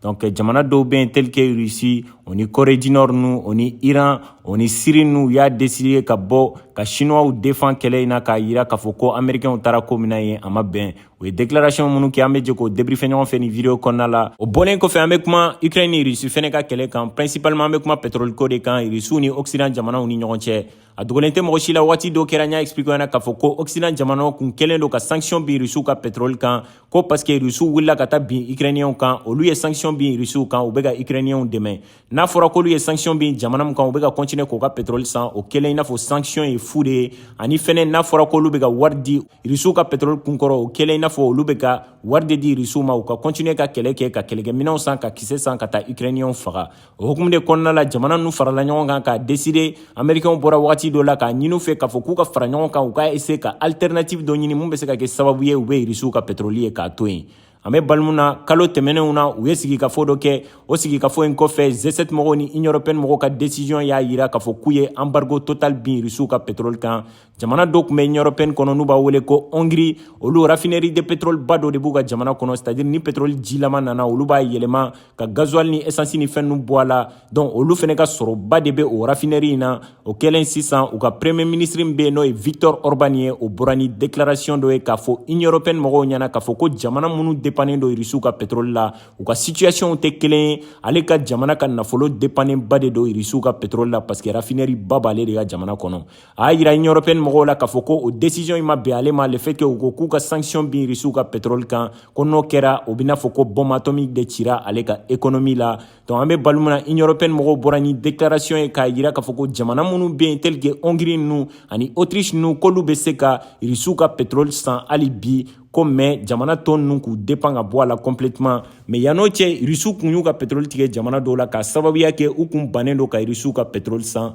Donc eh, jamana dɔw bɛ yen tel que Russie o ni Corée du Nord nu o ni Iran o ni Syrie nu u y'a décider ka bɔ ka Chinoisw défend kɛlɛ in na k'a yira k'a fɔ ko Américains taara ko min na yen a ma bɛn u ye déclaration minnu kɛ an bɛ jɛ k'o débriefer ɲɔgɔn fɛ nin video kɔnɔna la o bɔlen kɔfɛ an bɛ kuma Ukraine ni Russie fɛnɛ ka kɛlɛ kan principalement an bɛ kuma pétrole ko de kan Russie ni Occident jamanaw ni ɲɔgɔn cɛ a dogolen tɛ mɔgɔ si la waati dɔ kɛra n y'a expliquer ɲɛna k'a fɔ ko occident jamanaw kun kɛlen don ka sanction bin rusiw ka petrol kan ko parce que rusiw wulila ka taa bin ukrainiyɛnw kan olu ye sanction bin rusiw kan u bɛ ka ukrainiyɛnw dɛmɛ n'a fɔra k'olu ye sanction bin jamana min kan u bɛ ka continuer k'u ka petrol san o kɛlen i n'a fɔ sanction ye fu de ye ani fɛnɛ n'a fɔra k'olu bɛ ka wari di rusiw ka petrol kunkɔrɔ o kɛlen i n'a fɔ olu bɛ ka wari de di rusiw ma u ka continuer ka kɛlɛ kɛ ka kɛlɛkɛminɛnw san ka kisɛ san ka taa ukrainiyɛnw faga o hukumu de kɔnɔna la jamana nu farala ɲɔgɔn kan k'a deside amerikɛnw bɔra wagati dɔ la k'a ɲini u fɛ k'a fɔ k'u ka fara ɲɔgɔn kan u ka eseye ka alternative dɔ ɲini min bɛ se ka kɛ sababu ye u bɛ irisiw ka petroli ye k'a to yen an bɛ balimu na kalo tɛmɛnenw na u ye sigikafo dɔ kɛ o sigikafo in kɔfɛ G7 mɔgɔw ni union européenne mɔgɔw ka desiziyɔn y'a yira k'a fɔ k'u ye anbargo total bin irisiw ka petroli kan jamana dɔ kun bɛ union européenne kɔnɔ n'u b'a wele ko hongiri olu rafinɛri de petrol ba dɔ de b'u ka jamana kɔnɔ c'est-à-dire ni petrol jilama nana olu b'a yɛlɛma ka gazuwali ni esansi ni fɛn ninnu bɔ a la donc olu fɛnɛ ka sɔrɔba de bɛ o rafinɛri in na o kɛlen sisan u ka premier ministre min bɛ yen n'o ye victor orban ye o bɔra ni déclaration dɔ ye k'a fɔ union européenne mɔgɔw ɲɛna k'a fɔ ko jamana minnu dépannen don irisiw ka petrol la u ka situation tɛ kelen ye ale ka jamana ka nafolo dépannen ba de don irisiw ka petrol la parce que rafinɛri ba b'ale de ka jamana kɔnɔ a y'a yira union européenne mɔgɔw la k'a fɔ ko o décision in ma bɛn ale ma le fait que u ko k'u ka sanction bin risiw ka pétrole kan ko n'o kɛra o b'i n'a fɔ ko bombe atomique de cira ale ka économie la donc an bɛ balu min na union européenne mɔgɔw bɔra ni déclaration ye k'a yira k'a fɔ ko jamana minnu bɛ yen tel que hongrie ninnu ani autriche ninnu k'olu bɛ se ka risiw ka pétrole san hali bi ko mais jamana tɔ ninnu k'u depan ka bɔ a la complètement mais yann'o cɛ irisiw kun y'u ka pétrole tigɛ jamana dɔw la k'a sababuya kɛ u kun bannen don ka irisiw ka pétrole san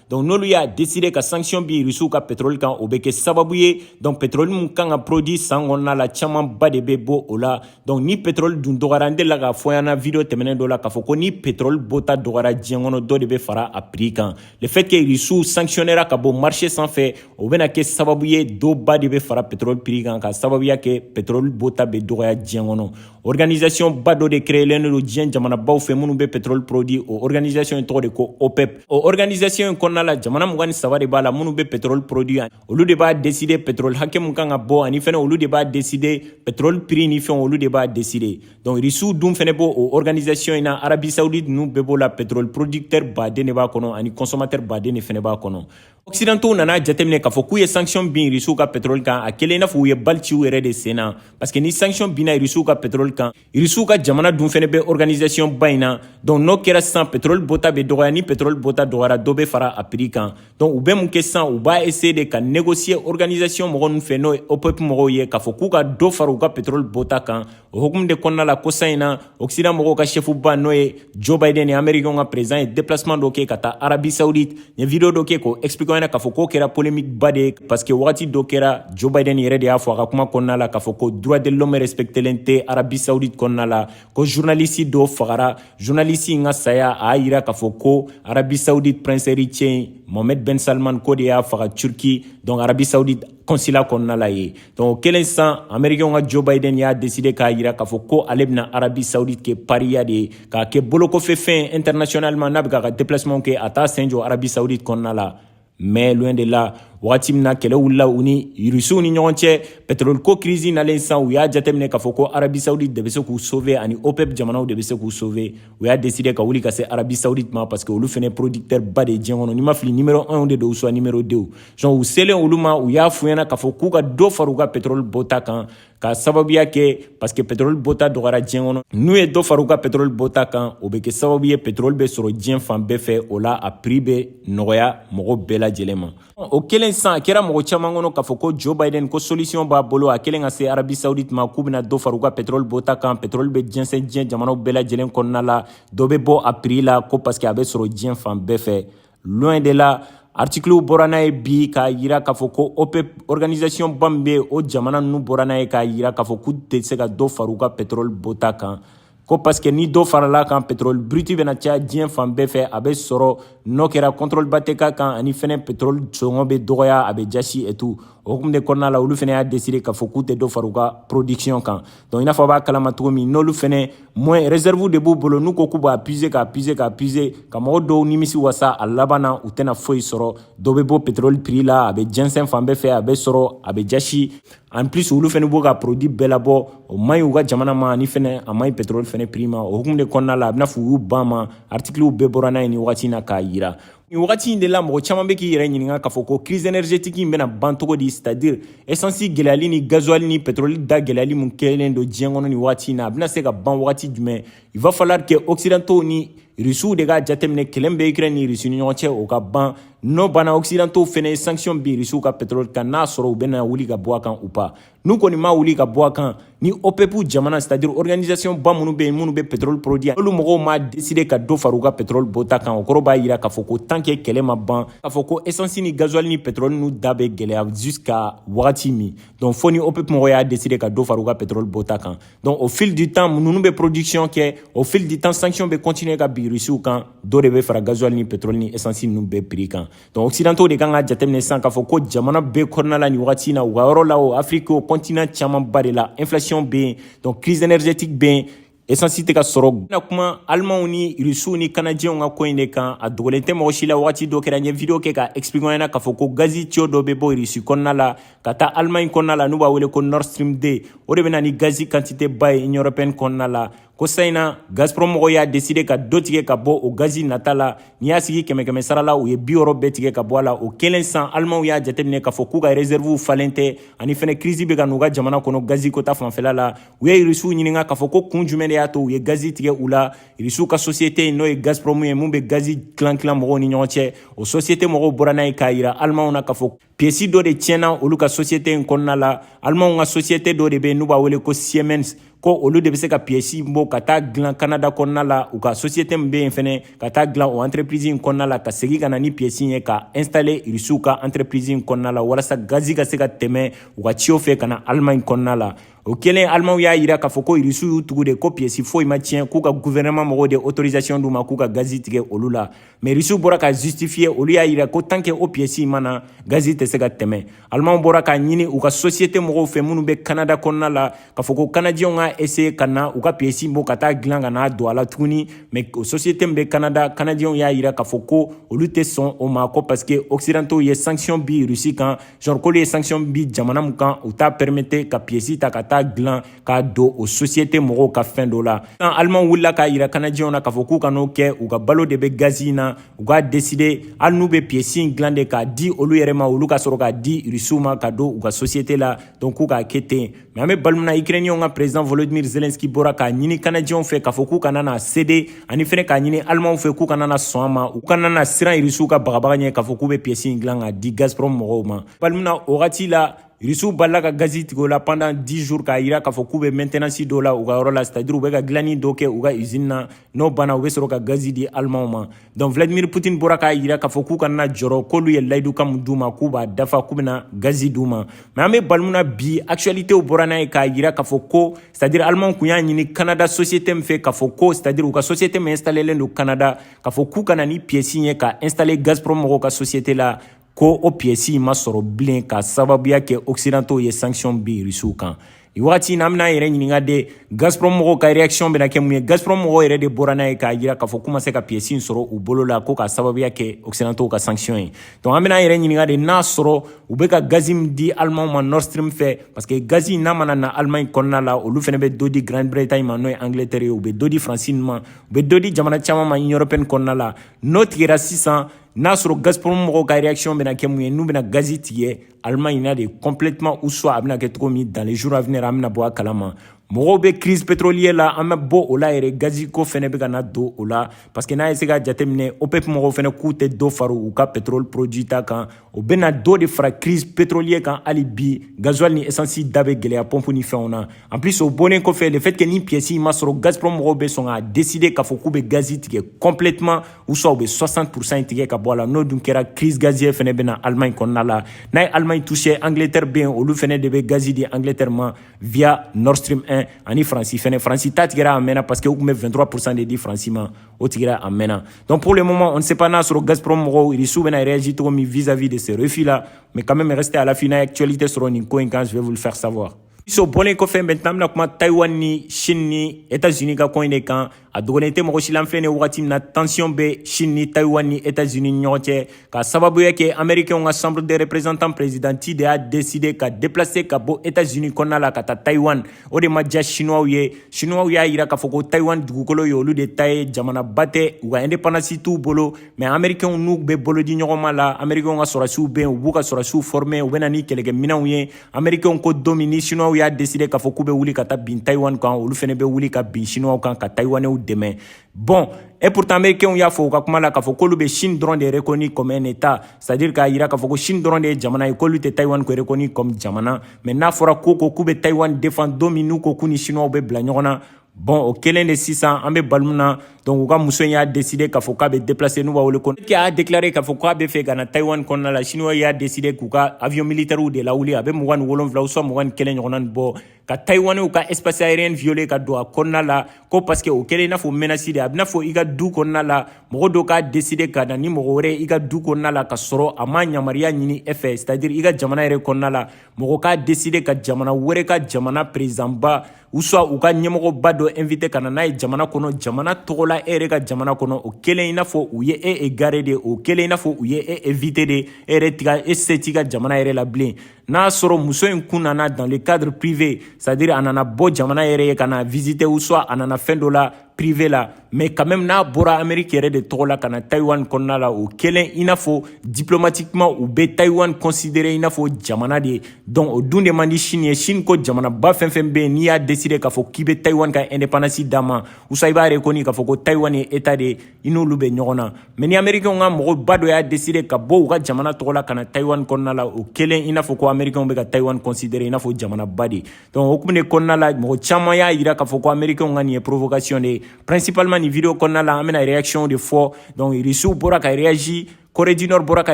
donc n'olu y'a décider ka sanction bin rusiw ka pétrole kan o bɛ kɛ sababu ye donc pétrole min kan ka produit san kɔnɔna la camanba de bɛ bɔ o la donc ni pétrole dun dɔgɔyara n delila k'a fɔ ɲɛna video tɛmɛnen dɔ la k'a fɔ ko ni pétrole bɔta dɔgɔyara diɲɛ kɔnɔ dɔ de bɛ fara a prix kan le fait que rusiw sanctionnera ka bɔ marché sanfɛ o bɛna kɛ sababu ye dɔba de bɛ fara pétrole prix kan k'a sababuya kɛ pétrole bɔta bɛ dɔgɔya diɲɛ kɔnɔ organisation ba dɔ de créelen don diɲɛ jamanabaw fɛ minnu bɛ pétrole produit o organisation in tɔgɔ de ko OPEP o organisation in kɔnɔna la jamana mugan ni saba de b'a la minnu bɛ pétrole produit olu de b'a décider pétrole hakɛ min kan ka bɔ ani fɛnɛ olu de b'a décider pétrole prix ni fɛnw olu de b'a décider donc risiw dun fɛnɛ b'o o organisation in na Arabie saoudite ninnu bɛɛ b'o la pétrole producteur baden de b'a kɔnɔ ani consommateur baden de fɛnɛ b'a kɔnɔ occidentaux nana jateminɛ k'a fɔ k'u ye sanction bin irisiw ka pétrole kan a kɛlen i n'a fɔ u ye bali ci u yɛrɛ de sen na parce que ni sanction binna irisiw ka pétrole kan irisiw ka jamana dun fɛnɛ bɛ organisation ba in na donc n'o kɛra sisan pétrole bɔta bɛ dɔgɔya ni pétrole bɔta dɔgɔyara dɔ bɛ fara a prix kan donc u bɛ mun kɛ sisan u b'a essayer de ka négocier organisation mɔgɔ ninnu fɛ n'o ye OPEP mɔgɔw ye k'a fɔ k'u ka dɔ fara u ka pétrole bɔta kan o hukumu de kɔnɔna la kosa in na occident mɔgɔw ka chef ba n'o ye joe biden ye americain ka président ye déplacement dɔ kɛ ka taa arabie saoudite n ye video dɔ kɛ k'o expliquer ɲɛna k'a fɔ k'o kɛra polemique ba de ye parce que wagati dɔ kɛra joe biden yɛrɛ de y'a fɔ a ka kuma kɔnɔna la k'a fɔ ko droit de l'homme respectelen tɛ arabie saoudite kɔnɔna la ko journaliste dɔ fagara journaliste in ka saya a y'a yira k'a fɔ ko arabie saoudite prince héritier mohamed ben salman k'o de y'a faga turquie donc arabie saoudite consulat kɔnɔna la yen Donc o kɛlen sisan amerikɛnw ka joe biden y'a deside k'a yira k'a fɔ ko ale bɛna arabi saudite kɛ pariya de ye k'a kɛ bolokɔfɛ fɛn internationalement n'a bɛ k'a ka déplacement kɛ a t'a sen jɔ arabi saudite kɔnɔna la mais loin de la wagati min na kɛlɛ wulila u ni irisiw ni ɲɔgɔn cɛ petroli ko kirisi nalen sisan u y'a jateminɛ k'a fɔ ko arabi saudite de bɛ se k'u sauve ani opep jamanaw de bɛ se k'u sauve u y'a deside ka wuli ka se arabi saudite ma parce que olu fɛnɛ producteur ba de ye diɲɛ kɔnɔ n'i ma fili numero 1 de don ou soit numero 2 Donc u selen olu ma u y'a f'u ɲɛna k'a fɔ k'u ka dɔ fara u ka petroli bɔta kan ka sababuya kɛ parce que petroli bɔta dɔgɔyara diɲɛ kɔnɔ n'u ye dɔ fara u ka petroli bɔta kan o bɛ kɛ sababu ye petroli bɛ sɔrɔ diɲɛ fan bɛɛ fɛ o la a prix bɛ nɔgɔya mɔgɔw bɛɛ lajɛlen ma o kɛlen sisan a kɛra mɔgɔ caman kɔnɔ k'a fɔ ko joe biden ko solution b'a bolo a kɛlen ka se arabi saudite ma k'u bɛna dɔ fara u ka petroli bɔta kan petroli bɛ jɛnsɛn diɲɛ jamanaw bɛɛ lajɛlen kɔnɔna la dɔ bɛ bɔ a prix la ko parce que a bɛ sɔrɔ diɲɛ fan bɛɛ fɛ Loin de la aritikiliw bɔra n'a ye bi k'a yira k'a fɔ ko opep organisasiɔn ba min bɛ o jamana ninnu bɔra n'a ye k'a yira k'a fɔ k'u tɛ se ka dɔ fara u ka petroli bɔta kan ko parce que ni dɔ farala kan petroli brut bɛna caya diɲɛ fan bɛɛ fɛ a bɛ sɔrɔ n'o kɛra contrôle ba tɛ k'a kan ani fɛnɛ petroli sɔngɔ bɛ dɔgɔya a bɛ jasi et tout o hukumu de kɔnɔna la olu fɛnɛ y'a deside k'a fɔ k'u tɛ dɔ fara u ka production kan donc i n'a fɔ a b'a kalama cogo min n'olu fɛnɛ moins réserve de b'u bolo n'u ko k'u b'a puiser k'a puiser k'a puiser ka mɔgɔ dɔw nimisi wasa a laban na u tɛna foyi sɔrɔ dɔ bɛ bɔ pétrole prix la a bɛ jɛnsɛn fan bɛɛ fɛ a bɛ sɔrɔ a bɛ jasi en plus olu fɛnɛ b'u ka produit bɛɛ labɔ o man ɲi u ka jamana ma ani fɛnɛ a man ɲi pétrole fɛnɛ prix ma o hukumu de kɔnɔna la a bɛna fɔ u y'u ban ma artikiliw bɛɛ bɔra n'a ye nin wagati in na k'a yira nin wagati in de la mɔgɔ caman bɛ k'i yɛrɛ ɲininka k'a fɔ ko crise energetique in bɛna ban cogo di c'est à dire esansi gɛlɛyali ni gazuwali ni petroli da gɛlɛyali min kɛlen don diɲɛ kɔnɔ nin wagati in na a bɛna se ka ban wagati jumɛn il va falloir que occidentaux ni rusiw de k'a jateminɛ kɛlɛ min bɛ ukraine ni rusi ni ɲɔgɔn cɛ o ka ban n'o banna occidentaux fɛnɛ ye sanction bin rusiw ka petroli kan n'a sɔrɔ u bɛna wuli ka bɔ a kan u pa n'u kɔni ma wuli ka bɔ a kan ni OPEP jamana c'est à dire organisation ba minnu bɛ yen minnu bɛ pétrole produit olu mɔgɔw ma décider ka dɔ fara u ka pétrole bɔta kan o kɔrɔ b'a jira k'a fɔ ko tant que kɛlɛ ma ban k'a fɔ ko essence ni gasoil ni pétrole n'u da bɛ gɛlɛya jusqu'à wagati min donc fo ni OPEP mɔgɔw y'a décider ka dɔ fara u ka pétrole bɔta kan donc au fil du temps ninnu bɛ production kɛ au fil du temps sanction bɛ continuer ka bin Russiw kan dɔ de bɛ fara gasoil ni pétrole ni essence ninnu bɛɛ prix kan donc occidentaux de kan k'a jateminɛ sisan k'a fɔ ko jamana bɛɛ kɔnɔna la nin wagati in na u ka yɔrɔ la o afiriki o kɔntinan camanba de la inflation bɛ yen donc crise énergétique bɛ yen esansi tɛ ka sɔrɔ bɛna kuma alimanw ni irisiw ni kanajɛnw ka ko in de kan a dogolen tɛ mɔgɔ si la wagati dɔ kɛra n ye video kɛ ka expliquer ɲɛna k'a fɔ ko gazi tiyo dɔ bɛ bɔ irisi kɔnɔna la ka taa alimaɲi kɔnɔna la n'u b'a wele ko nord stream 2 o de bɛ na ni gazi kantite ba ye union européenne kɔnɔna la ko san in na gazprom mɔgɔw y'a deside ka dɔ tigɛ ka bɔ o gazi nata la n'i y'a sigi kɛmɛ kɛmɛ sara la u ye biwɔɔrɔ bɛɛ tigɛ ka bɔ a la o kɛlen san alimanw y'a jateminɛ k'a fɔ k'u ka reserviw falen tɛ ani fɛnɛ kirisi bɛ ka n'u ka jamana kɔnɔ gazi ko ta fanfɛla la u ye irisiw ɲininka k'a fɔ ko kun jumɛn de y'a to u ye gazi tigɛ u la irisiw ka sosiyete in n'o ye gazprom ye min bɛ gazi tilan tilan mɔgɔw ni ɲɔgɔn cɛ o sosiyete mɔgɔw bɔra n'a ye k'a yira alimanw na k'a fɔ piesi dɔ de tiɲɛna olu ka sosiyete in kɔnɔna la alimanw ka sosiyete dɔ de bɛ yen n'u b'a wele ko siemens ko olu de bɛ se ka piesi bɔ ka taa dilan kanada kɔnɔna la u ka sosiyete min bɛ yen fɛnɛ ka taa dilan o entreprise in kɔnɔna la ka segin ka na ni piesi ye ka installer irisiw ka entreprise in kɔnɔna la walasa gazi ka se ka tɛmɛ u ka tiyo fɛ ka na alimaɲi kɔnɔna la o kɛlen alimanw y'a yira k'a fɔ ko irisiw y'u tugu de ko piesi foyi ma tiɲɛ k'u ka guvɛrɛnɛman mɔgɔw de autorisation d'u ma k'u ka gazi tigɛ olu la Mais Russiw bɔra k'a justifier olu y'a yira ko tant que o pièce in ma na gazi tɛ se ka tɛmɛ Allemands bɔra k'a ɲini u ka société mɔgɔw fɛ minnu bɛ Canada kɔnɔna la k'a fɔ ko Canadiens ka essayer ka na u ka pièce bɔ ka taa dilan ka n'a don a la tuguni mais o société min bɛ Canada Canadiens y'a yira k'a fɔ ko olu tɛ sɔn o ma ko parce que occidentaux ye sanction bi Russie kan genre k'olu ye sanction bi jamana min kan u t'a permettre ka pièce ta ka taa dilan k'a don o sosiyete mɔgɔw ka fɛn dɔ la sisan alimanw wulila k'a yira kanajɛw na k'a fɔ k'u kan'o kɛ u ka balo de bɛ gazi in na u k'a deside hali n'u bɛ piyesi in dilan de k'a di olu yɛrɛ ma olu ka sɔrɔ k'a di irisiw ma ka don u ka sosiyete la donc k'u k'a kɛ ten mɛ an bɛ baro min na ikirɛniyɛnw ka prezidan volodimir zelenski bɔra k'a ɲini kanajɛw fɛ k'a fɔ k'u kana na sede ani fɛnɛ k'a ɲini alimanw fɛ k'u kana na sɔn a ma u kana na siran irisiw ka bagabaga ɲɛ k'a fɔ k'u bɛ piyesi in dilan k'a di gazprom mɔgɔw ma baro min na o wagati la Rusiw balila ka gazi tigɛ u la pendant 10 jours k'a jira k'a fɔ k'u bɛ maintenance dɔ la u ka yɔrɔ la c'est à dire u bɛ ka dilanni dɔ kɛ u ka usine na n'o banna u bɛ sɔrɔ ka gazi di Allemands ma donc Vladimir Poutine bɔra k'a jira k'a fɔ k'u kana jɔrɔ k'olu ye layidukan min d'u ma k'u b'a dafa k'u bɛna gazi d'u ma mais an bɛ baro min na bi actualité bɔra n'a ye k'a jira k'a fɔ ko c'est à dire Allemands kun y'a ɲini Canada société min fɛ k'a fɔ ko c'est à dire u ka société min installelen don Canada k'a fɔ k'u ka na ni pièce ye ka installer Gazprom mɔgɔw ka société la ko o piyɛsi in ma sɔrɔ bilen ka sababuya kɛ occidentaux ye sanction bin rusiw kan nin wagati in na an bɛna an yɛrɛ ɲininka de gazprom mɔgɔw ka reaction bɛna kɛ mun ye gazprom mɔgɔw yɛrɛ de bɔra n'a ye k'a jira k'a fɔ k'u ma se ka piyɛsi in sɔrɔ u bolo la ko ka sababuya kɛ occidentaux ka sanction ye donc an bɛna an yɛrɛ ɲininka de n'a sɔrɔ u bɛ ka gazi min di alimanw ma nord stream fɛ parce que gazi in n'a mana na alimaɲi kɔnɔna la olu fɛnɛ bɛ dɔ di grande bretagne ma n'o ye angleterre ye u bɛ dɔ di faransi ma u bɛ dɔ di jamana caman ma union européenne kɔnɔna la n'o tigɛra sisan n'a sɔrɔ gazprom mɔgɔw ka réaction bɛna kɛ mun ye n'u bɛna gazi tigɛ allemagne na de complètement ou soit a bɛna kɛ cogo min dans les jours à venir an bɛna bɔ a kalama mɔgɔw bɛ crise pétrolier la an bɛ bɔ o la yɛrɛ gazi ko fɛnɛ bɛ ka na don o la parce que n'a ye se ka jateminɛ opep mɔgɔw fɛnɛ k'u tɛ dɔ fara u ka pétrole produit ta kan o bɛna dɔ de fara crise pétrolier kan hali bi gasoil ni essence da bɛ gɛlɛya pompe ni fɛnw na en plus o bɔnnen kɔfɛ le fait que ni pièce ma sɔrɔ gazprom mɔgɔw bɛ sɔn ka décider k'a fɔ k'u bɛ gazi tigɛ complètement ou soit u bɛ 60 pourcent tigɛ ka bɔ a la n'o dun kɛra crise gazière fɛnɛ bɛ na Allemagne kɔnɔna la n'a ye Allemagne touché Angleterre bɛ yen olu fɛnɛ de bɛ gazi di Angleterre ma via Nord Stream 1 ani France fɛnɛ France ta tigɛra a mɛnna parce que u tun bɛ 23 pourcent de di France ma o tigɛra a mɛnna donc pour le moment on ne sait pas n'a sɔrɔ Gazprom mɔgɔw Russie bɛna réagir cogo min vis-à-vis de ce refus là mais quand même restez à l'affût n'a ye actualité sɔrɔ nin ko in kan je vais vous le faire savoir O bɔlen kɔfɛ maintenant an bɛna kuma Taiwan ni Chine ni Etats-Unis ka ko in de kan a dogolen tɛ mɔgɔ si la an filɛ nin wagati min na tension bɛ Chine ni Taiwan ni Etats-Unis ni ɲɔgɔn cɛ ka sababuya kɛ Américains ka Chambre des représentants présidente de y'a décidé ka déplacer ka bɔ Etats-Unis kɔnɔna la ka taa Taiwan o de ma diya Chinois ye Chinois y'a jira k'a fɔ ko Taiwan dugukolo ye olu de ta ye jamanaba tɛ u ka indépendance t'u bolo mais Américains n'u bɛ bolodiɲɔgɔnma la Américains ka sɔrɔdasiw bɛ yen u b'u ka sɔrɔdasiw former u bɛ na ni kɛlɛkɛminɛnw ye amerikɛnw ko don min ni siniwaw y'a deside k'a fɔ k'u bɛ wuli ka taa bin taiwan kan olu fɛnɛ bɛ wuli ka bin siniwaw kan ka taiwanɛw dɛmɛ bon et pourtant amerikɛnw y'a fɔ u ka kuma la k'a fɔ k'olu bɛ chine dɔrɔn de rekoni comme un état c'est à dire k'a yira k'a fɔ ko chine dɔrɔn de ye jamana ye k'olu tɛ taiwan ko rekoni comme jamana mais n'a fɔra ko k'u bɛ taiwan defan don min n'u ko k'u ni siniwaw bɛ bila ɲɔgɔn na bɔn o kelen de sisan an bɛ balo min na donc u ka muso in y'a deside k'a fɔ k'a bɛ deplase n'u b'a wele ko ke y'a deklare k'a fɔ k'a bɛ fɛ ka na taiwan kɔnɔna la chinois y'a deside k'u ka avion militɛriw de lawuli a bɛ mugan ni wolonfila u swa mugan ni kelen ɲɔgɔnna ni bɔ ka taiwanew ka espace aérien viole ka don a kɔnɔna la ko paske o kɛlen i n'a fɔ menasi de a bɛ n'a fɔ i ka du kɔnɔna la mɔgɔ dɔ k'a deside ka na ni mɔgɔ wɛrɛ i ka du kɔnɔna la ka sɔrɔ a ma yamaruya ɲini e fɛ c'est à dire i ka jamana yɛrɛ kɔnɔna la mɔgɔ k'a deside ka jamana wɛrɛ ka jamana perezidanba u swa u ka ɲɛmɔgɔba dɔ invite ka na n'a ye jamana kɔnɔ jamana tɔgɔ la e yɛrɛ ka jamana kɔnɔ o kɛlen i n'a fɔ u ye e egare de o kɛlen i n'a fɔ u ye e evite de e yɛrɛ tiga e se t'i ka jamana yɛrɛ la bilen n'a sɔrɔ muso in kun nana dans le cadre privé c'est à dire a nana bɔ jamana yɛrɛ ye ka na visite u swa a nana fɛn dɔ la privé la mais quand même n'a bɔra Amérique yɛrɛ de tɔgɔ la ka na Taïwan kɔnɔna la o kɛlen i n'a fɔ diplomatiquement u bɛ Taïwan considérer i n'a fɔ jamana de donc o dun de man di Chine ye Chine ko jamanaba fɛn fɛn bɛ yen n'i y'a décider k'a fɔ k'i bɛ Taïwan ka indépendance d'a ma ou soit i b'a reconnu k'a fɔ ko Taïwan ye état de ye i n'olu bɛ ɲɔgɔn na mais ni Américains ka mɔgɔba dɔ y'a décider ka bɔ u ka jamana tɔgɔ la ka na Taïwan kɔnɔna la o kɛlen i n'a fɔ ko Américains bɛ ka Taïwan considérer i n'a fɔ jamanaba de donc o kuma de kɔnɔna la mɔgɔ caman y'a yira k'a fɔ ko américains ka nin ye provocation de ye principalement nin vidéo kɔnɔna la an bɛna réaction de fɔ donc russiw bɔra ka réagi Corée du Nord bɔra ka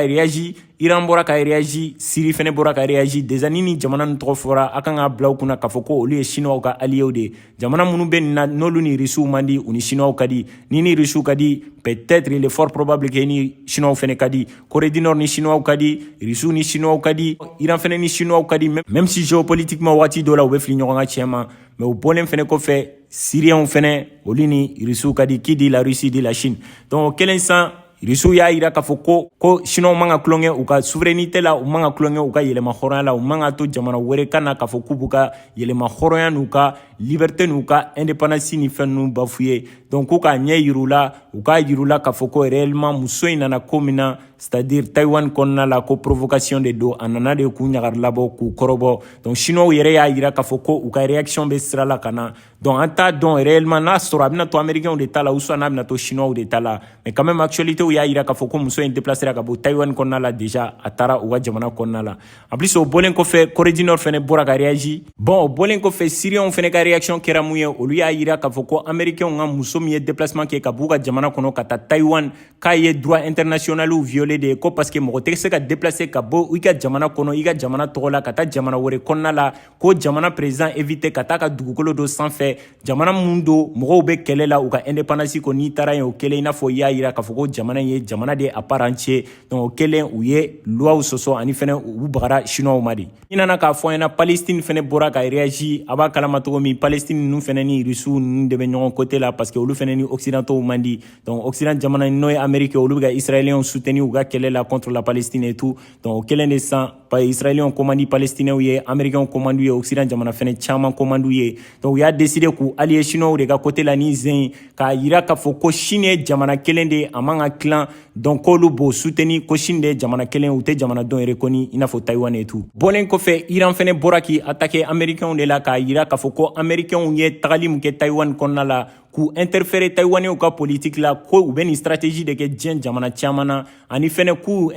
réagi Iran bɔra ka réagi Syrie fɛnɛ bɔra ka réagi déjà ni nin jamana ninnu tɔgɔ fɔra a kan ka bila u kunna k'a fɔ ko olu ye Chinois ka alliés de ye jamana minnu bɛ nin na n'olu ni Russiw man di u ni Chinois ka di n'i ni Russiw ka di peut-être il est fort probable que ni Chinois fɛnɛ ka di Corée du Nord ni Chinois ka di Russiw ni Chinois ka di Iran fɛnɛ ni Chinois ka di même si géopolitiquement waati dɔ la u bɛ fili ɲɔgɔn ka tiɲɛ ma mais o bɔlen fɛnɛ kɔfɛ Syriens fɛnɛ olu ni Russiw ka di qui dit la Russie dit la Chine donc o kɛlen san Russiw y'a yira k'a fɔ ko ko Chinois man ka tulonkɛ u ka souveraineté la u man ka tulonkɛ u ka yɛrɛmahɔrɔnya la u man ka to jamana wɛrɛ ka na k'a fɔ k'u b'u ka yɛrɛmahɔrɔnya n'u ka liberté n'u ka indépendance ni fɛn ninnu bafouer donc k'u k'a ɲɛ yir'u la u k'a yir'u la k'a fɔ ko réellement muso in nana ko min na c'est-à-dire taiwan kɔnɔna la ko provocation de don a nana de k'u ɲagari labɔ k'u kɔrɔbɔ donc chinois yɛrɛ y'a yira k'a fɔ ko u ka réaction bɛ sira la ka na donc an t'a dɔn réellement n'a sɔrɔ a bɛna to américainw de ta la ou soit n'a bɛna to chinois de ta la mais quand même actualitéw y'a yira k'a fɔ ko muso in déplacera ka bɔ taiwan kɔnɔna la déjà a taara u ka jamana kɔnɔna la En plus o bɔlen kɔfɛ Corée du Nord fɛnɛ bɔra ka réagir bon o bɔlen kɔfɛ Syriens fɛnɛ ka réaction kɛra mun ye olu y'a yira k'a fɔ ko Américains ka muso min ye déplacement kɛ ka b'u ka jamana kɔnɔ ka taa Taïwan k'a ye droit international violer de ye ko parce que mɔgɔ tɛ se ka déplacer ka bɔ i ka jamana kɔnɔ i ka jamana tɔgɔ la ka taa jamana wɛrɛ kɔnɔna la k'o jamana président éviter ka taa ka dugukolo dɔ sanfɛ jamana min don mɔgɔw bɛ kɛlɛ la u ka indépendance ko n'i taara yen o kɛlen i n'a fɔ i y'a yira k'a fɔ ko jamana in ye jamana de à part entière donc o kɛlen u ye loiw sɔsɔ ani fɛnɛ u bagara chinois ma de i nana k'a fɔ an ɲɛna palestine fɛnɛ bɔra ka réagi a b'a kalama cogo min palestine ninnu fɛnɛ ni russiw ninnu de bɛ ɲɔgɔn côté la parce que olu fɛnɛ ni occidentaux man di donc occident jamana n'o ye Amérique olu bɛ ka israéliens soutenu u ka kɛlɛ la contre la palestine et tout donc o kɛlen de san israɛliyɛnw ko man di palestinɛw ye amerikɛnw ko man d'u ye oksidan jamana fɛnɛ caaman ko man d'u ye donc u y'a deside k'u aliye chinois de ka kote la nin sen k'a yira k'a fɔ ko chine ye jamana kelen de a man ka tilan donc k'olu b'o suteni ko chine de ye jamana kelen u tɛ jamana dɔn yɛrɛ kɔni i n'a fɔ taiwan et tout bɔlen kɔfɛ iran fɛnɛ bɔra k'i atake amerikɛnw de la k'a yira k'a fɔ ko amerikɛnw ye tagali min kɛ taiwan kɔnɔna la k'u interfere tayiwanew ka politiki la ko u bɛ nin strategie de kɛ diɲɛ jamana caman na ani fɛnɛ k'o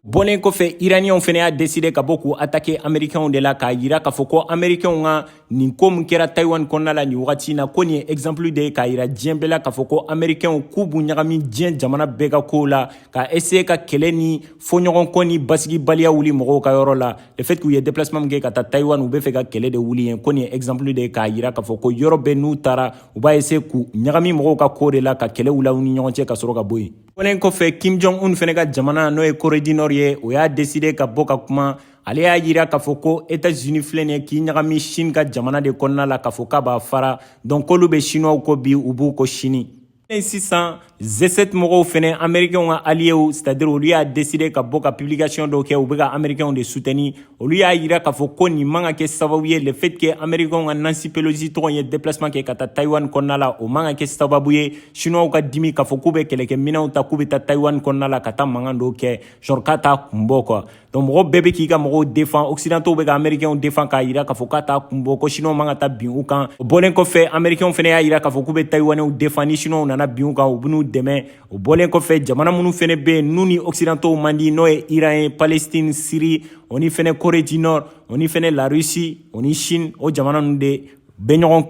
bɔlen kɔfɛ iraniyanw fɛnɛ y'a deside ka bɔ k'u atake amerikɛnw de la k'a yira k'a fɔ ko amerikɛnw ka nin ko min kɛra taiwan kɔnɔna la nin wagati na ko nin ye exemple de ye k'a yira diɲɛ bɛɛ la k'a fɔ ko amerikɛnw k'u b'u ɲagami diɲɛ jamana bɛɛ ka kow la ka essaye ka kɛlɛ ni fɔɲɔgɔnkɔ ni basigibaliya wuli mɔgɔw ka yɔrɔ la le fait k'u ye déplacement min kɛ ka taa Taïwan u bɛ fɛ ka kɛlɛ de wuli yen ko nin ye exemple de ye k'a yira k'a fɔ ko yɔrɔ bɛɛ n'u taara u b'a essayer k'u ɲagami mɔgɔw ka ko de la ka kɛlɛ wuli aw ni ɲɔgɔn cɛ ka sɔrɔ ka bɔ yen o bɔlen kɔfɛ Kim Jong Un fɛnɛ ka jamana n'o ye Corée du Nord ye o y'a décider ka bɔ ka kuma ale y'a yira k'a fɔ ko États-Unis filɛ nin ye k'i ɲagami Chine ka jamana de kɔnɔna la k'a fɔ k'a b'a fara donc k'olu bɛ Chinois kɔ bi u b'u kɔ sini sisan G7 mɔgɔw fɛnɛ amerikɛnw ka aliyew c'est-à-dire olu y'a deside ka bɔ ka publication dɔw kɛ u bɛ ka amerikɛnw de sutɛni olu y'a yira k'a fɔ ko nin man ka kɛ sababu ye le fait que amerikɛnw ka nancy pelosi tɔgɔ ye déplacement kɛ ka taa taiwan kɔnɔna la o man ka kɛ sababu ye chinoisw ka dimi k'a fɔ k'u bɛ kɛlɛkɛminɛnw ta k'u bɛ taa taiwan kɔnɔna la ka taa mankan dɔw kɛ genre k'a t'a kun bɔ quoi donc mɔgɔ bɛɛ bɛ k'i ka mɔgɔw defan occidentaux bɛ ka américainw defan k'a yira k'a fɔ k'a t'a kun bɔ ko chinois man ka taa bin u kan o bɔlen kɔfɛ américainw fɛnɛ y'a yira k'a fɔ k'u bɛ taïwanɛw defan ni chinois nana bin u kan u bɛn'u dɛmɛ o bɔlen kɔfɛ jamana minnu fɛnɛ bɛ yen n'u ni occidentaux man di n'o ye iran ye palestine syrie o ni fɛnɛ corée du nord o ni fɛnɛ la russie o ni chine o jamana ninnu de bɛ ɲɔgɔn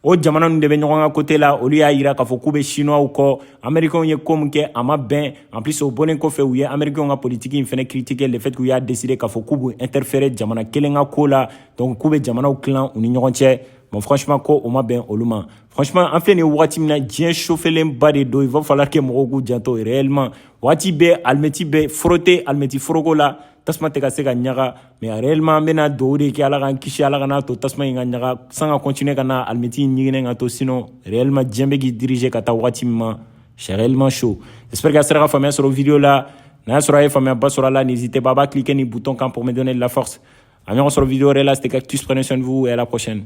o jamana ninnu de bɛ ɲɔgɔn ka kote la olu y'a yira k'a fɔ k'u bɛ sinuwaw kɔ amerikɛnw ye ko min kɛ a ma bɛn en plus o bɔlen kɔfɛ u ye amerikɛnw ka politiki in fɛnɛ critiquer le fait k'u y'a décider k'a fɔ k'u b'u interférer jamana kelen ka ko la donc k'u bɛ jamanaw tilan u ni ɲɔgɔn cɛ bon franchement ko o ma bɛn olu ma franchement an filɛ nin ye wagati min na diɲɛ sofelenba de don il va falloir que mɔgɔw k'u janto réellement wagati bɛɛ alimɛti bɛ forote alimɛti foroko la tasuma tɛ ka se ka ɲaga mais réellement an bɛna dugawu de kɛ ala k'an kisi ala kana to tasuma in ka ɲaga san ka continuer ka na alimɛti ɲiginnen ka to sinon réellement diɲɛ bɛ k'i diriger ka taa wagati min ma c'est réellement chaud j'espère que a sera ka faamuya sɔrɔ video la n'a y'a sɔrɔ a ye faamuyaba sɔrɔ a la n'hésitez pas a b'a cliquer nin bouton kan pour me donner de la force a ɲɔgɔn sɔrɔ video wɛrɛ la c'était cactus prenez soin de vous et à la prochaine